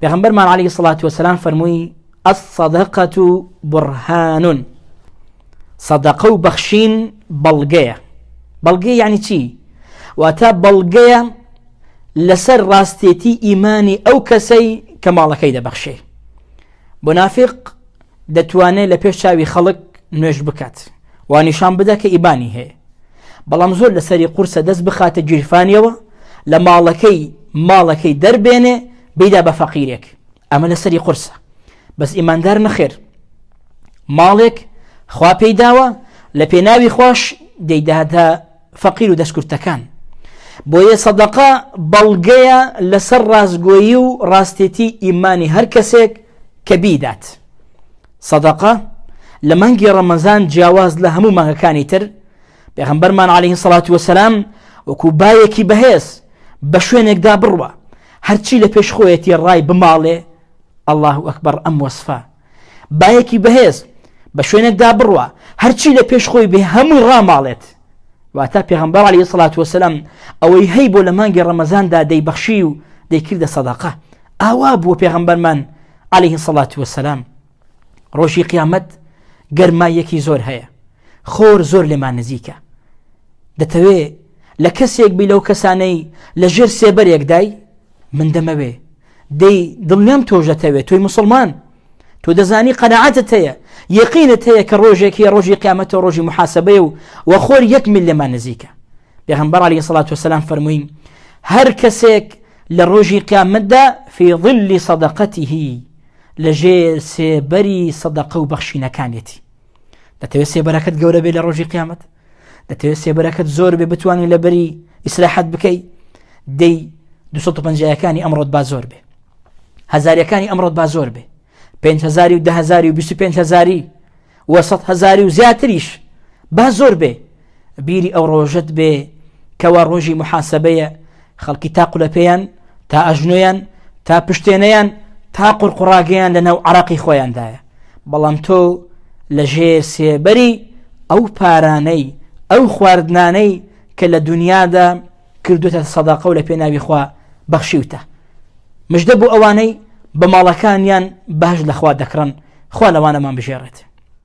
پێغمبەرمان عەلەیهی سڵات وەسەلام فەرمووی ئەسەدەقەت و بڕهانون سەدەقە و بەخشین بەڵگەیە بەڵگەی یعنی چی واتە بەڵگەیە لەسەر ڕاستێتی ئیمانی ئەو کەسەی کە ماڵەکەی دەبەخشێ بۆ نافق دەتوانێت لە پێش چاوی خەڵک نوێش بکات وا نیشان بدە کە ئیبانی هەیە بەڵام زۆر لەسەری قورسە دەست بخاتە گیرفانیەوە لە ماڵەکەی ماڵەکەی دەربێنێ بیدا بە فەقیرێک ئەمە لەسەری قورسە بەس ئیماندار نەخێر ماڵێک خوا پێی داوە لە پێناوی خۆش دەیدادە فەقیر و دەستکردەکان بۆیە سەدەقا بەڵگەیە لەسەر ڕاستگۆیی و ڕاستێتی ئیمانی هەر کەسێک کە بیدات سەدەقە لە مانگی ڕەمەزان جیاواز لە هەموو مانگەکانی تر پێغەمبەرمان عەلەیهی سەڵات وەسەلام وەکو بایەکی بەهێز بە شوێنێکدا بڕوا هەرچی لە پێش خۆیەتی ڕای بماڵێ ئەلله ئەکبەر ئەم وەسفە بایەکی بەهێز بە شوێنێکدا بڕوا هەرچی لە پێش خۆی بێ هەمووی ڕاماڵێت واتە پێغمبەر عەلەیهی سەڵات وەسەلام ئەوەی هەی بۆ لە مانگی ڕەمەزاندا دەیبەخشی و دەیکردە سەدەقە ئاوا بووە پێغەمبەرمان علیە سەڵات وسلام ڕۆژی قیامەت گەرمایەکی زۆر هەیە خۆر زۆر لێمان نزیکە دەتەوێ لە کەسێک بی لەو کەسانەی لە ژێر سێبەرێکدای من دەمەوێ دەی دڵنیام تۆژەتەوێت تۆی مسلمان تۆ دەزانی قەنەعاتت هەیە یەقینت هەیە کە ڕۆژێکی ڕۆژی قیامەتە ڕۆژی محاسبەیە و وەخۆر یەک مل لێمان نزیکە پێغەمبەر علیە سەڵات وسلام فەرمووی هەر کەسێک لە ڕۆژی قیامەتدا في ظل صدقته لە ژێر سێبەری سەدەقە و بەخشینەکانێتی دەتەوێت سێبەرەکەت گەورە بێ لە ڕۆژی قیامەت دەتەوێت سێبەرەکەت زۆر بێ بتوانین لە بەری ئیسراحەت بکەی دەی 250ەکانی ئەمڕۆت با زۆر بێ هزارەکانی ئەمڕۆت با زۆر بێ 5هزاری و دههزاری و 25هزاری وە سەد هەزاری و زیاتریش با زۆر بێ بیری ئەو ڕۆژەت بێ کەوا ڕۆژی محاسبەیە خەڵکی تا قولەپێیان تا ئەژنۆیان تا پشتێنەیان تا قڕقڕاگەیان لە ناو عراقی خۆیاندایە بەڵام تۆ لە ژێر سێبەری ئەو پارانەی ئەو خواردنانەی کە لە دنیادا کردوتە سەداقە و لە پێناوی خوا بەخشیوتە مژدە بۆ ئەوانەی بە ماڵەکانیان باش لەخوا دەکڕن خوا لەوانەمان بژێڕێت